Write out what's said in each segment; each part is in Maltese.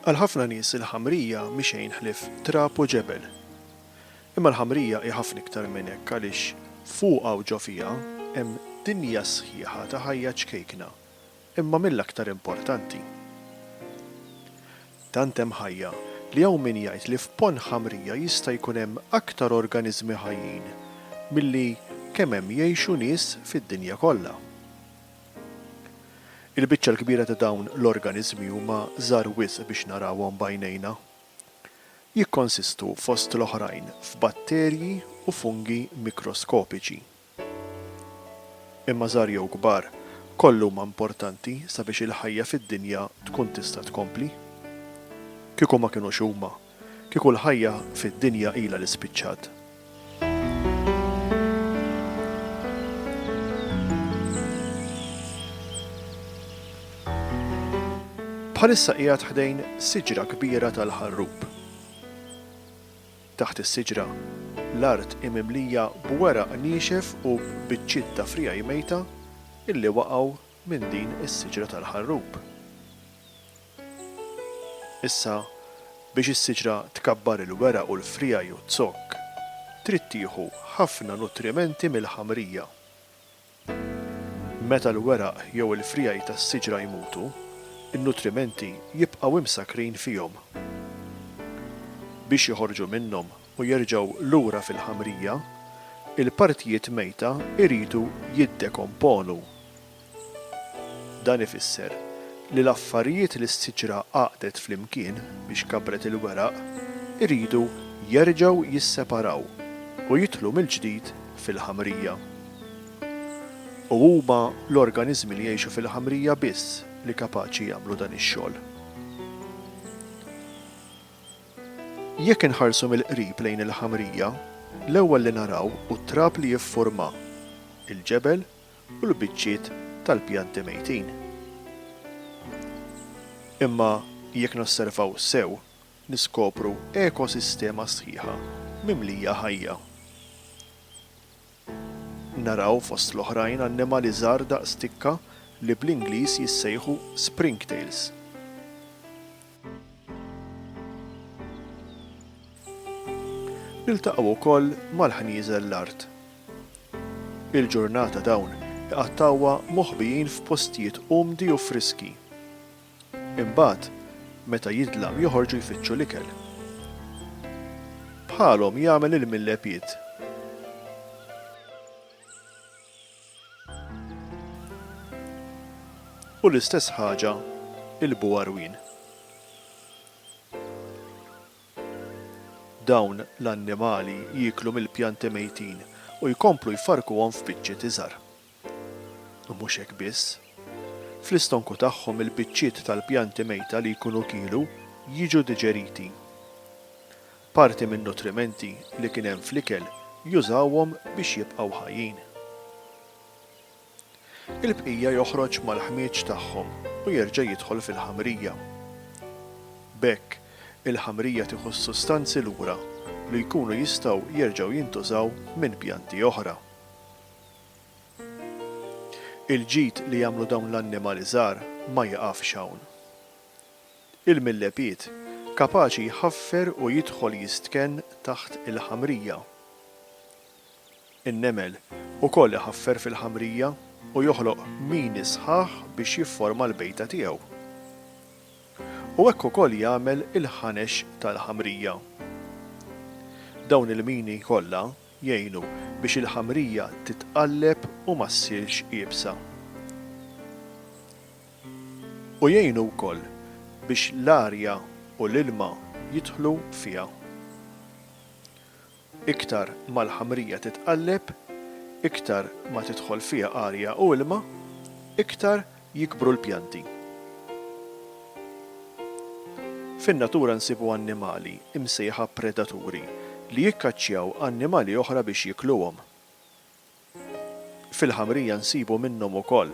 Għal ħafna nies il-ħamrija mhi xejn ħlief trab u ġebel. Imma l-ħamrija hi ħafna iktar minn hekk għaliex fuqha u ġo fiha hemm dinja sħiħa ta' ħajja ċkejkna Imma mill-aktar importanti. Tant hemm ħajja li hawn min jgħid li f'ponn ħamrija jista' jkun hemm aktar organiżmi ħajjin milli kemm hemm jgħixu nies fid-dinja kollha. Il-biċċa l-kbira ta' dawn l-organiżmi huma żgħar wisq biex narawhom b'għajnejna. Jikkonsistu fost l-oħrajn f'batterji u fungi mikroskopiċi. Imma żgħar jew kbar, kollha huma importanti sabiex il-ħajja fid-dinja tkun tista' tkompli. Kieku ma kinux huma, kieku l-ħajja fid-dinja ilha li spiċċat. Bħalissa qiegħed ħdejn siġra kbira tal-ħarrub. Taħt is-siġra, l-art hi mimlija b'weraq niexef u b'biċċiet ta' friegħi mejta illi waqgħu minn din is-siġra tal-ħarrub. Issa, biex is-siġra tkabbar il-weraq u l-friegħi u t-zokk, trid tieħu ħafna nutrimenti mill-ħamrija. Meta l-weraq jew il-friegħi tas-siġra jmutu, in-nutrimenti jibqgħu imsakkrin fihom. Biex joħorġu minnhom u jerġgħu lura fil-ħamrija, il-partijiet mejta jridu jiddekomponu. Dan ifisser li l-affarijiet li s-siġra għaqdet flimkien biex kabbret il-weraq iridu jerġgħu jisseparaw u jidħlu mill-ġdid fil-ħamrija. U huma l-organiżmi li jgħixu fil-ħamrija biss li kapaċi jagħmlu dan ix-xogħol. Jekk inħarsu mill-qrib lejn il-ħamrija, l-ewwel li naraw hu t-trab li jiffurma, il-ġebel u l-biċċiet tal-pjanti mejtin. Imma jekk nosservaw sew, niskopru ekosistema sħiħa mimlija ħajja. Naraw, fost l-oħrajn, annimali żgħar daqs tikka li bl-Ingliż jissejħu springtails. Niltaqgħu wkoll mal-ħnieżel l-art. Il-ġurnata dawn iqattgħuha moħbijin f'postijiet umdi u friski. Imbagħad, meta jidlam joħorġu jfittxu l-ikel. Bħalhom jagħmel il-millepied. U l-istess ħaġa il-buwarwin. Dawn l-annimali jieklu mill-pjanti mejtin u jkomplu jfarrkuhom f'biċċiet iżgħar. U mhux hekk biss. Fl-istonku tagħhom il-biċċiet tal-pjanti mejta li jkunu kielu jiġu diġeriti. Parti min-nutrimenti li kien hemm fl-ikel jużawhom biex jibqgħu ħajjin. Il-bqija joħroġ mal-ħmieġ tagħhom u jerġa' jidħol fil-ħamrija. B'hekk, il-ħamrija tieħu s-sustanzi lura li jkunu jistgħu jerġgħu jintużaw minn pjanti oħra. Il-ġid li jagħmlu dawn l-annimali żgħar ma jiqafx hawn. Il-millepied kapaċi jħaffer u jidħol jistkenn taħt il-ħamrija. In-nemel ukoll iħaffer fil-ħamrija u joħloq mini sħaħ biex jifforma l-bejta tiegħu. U hekk ukoll jagħmel il-ħanex tal-ħamrija. Dawn il-mini kollha jgħinu biex il-ħamrija titqalleb u ma ssirx iebsa. U jgħinu wkoll biex l-arja u l-ilma jidħlu fiha. Iktar ma l-ħamrija titqalleb, iktar ma tidħol fiha arja u ilma, iktar jikbru l-pjanti. Fin-natura nsibu annimali, imsejħa predaturi, li jikkaċċjaw annimali oħra biex jiekluhom. Fil-ħamrija nsibu minnhom ukoll.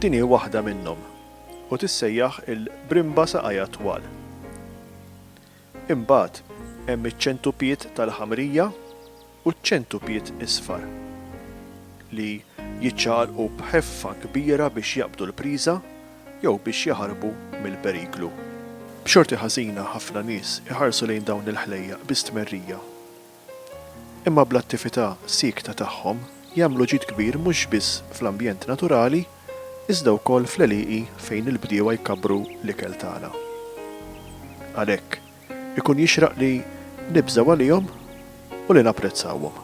Din hi waħda minnhom u tissejjaħ il-brimba saqajha twal. Imbagħad hemm iċ-ċentupied tal-ħamrija u ċ-ċentupied isfar, li jiċċaqalqu b'ħeffa kbira biex jaqbdu l-priża jew biex jaħarbu mill-periklu. B'xorti ħażina ħafna nies iħarsu lejn dawn il-ħlejjaq bi stmerrija. imma bl-attività siekta tagħhom jagħmlu ġid kbir mhux biss fl-ambjent naturali iżda wkoll fl-għelieqi fejn il-bdiewa jkabbru l-ikel tagħna. Għalhekk, ikun jixraq li nibżgħu għalihom u li napprezzawhom.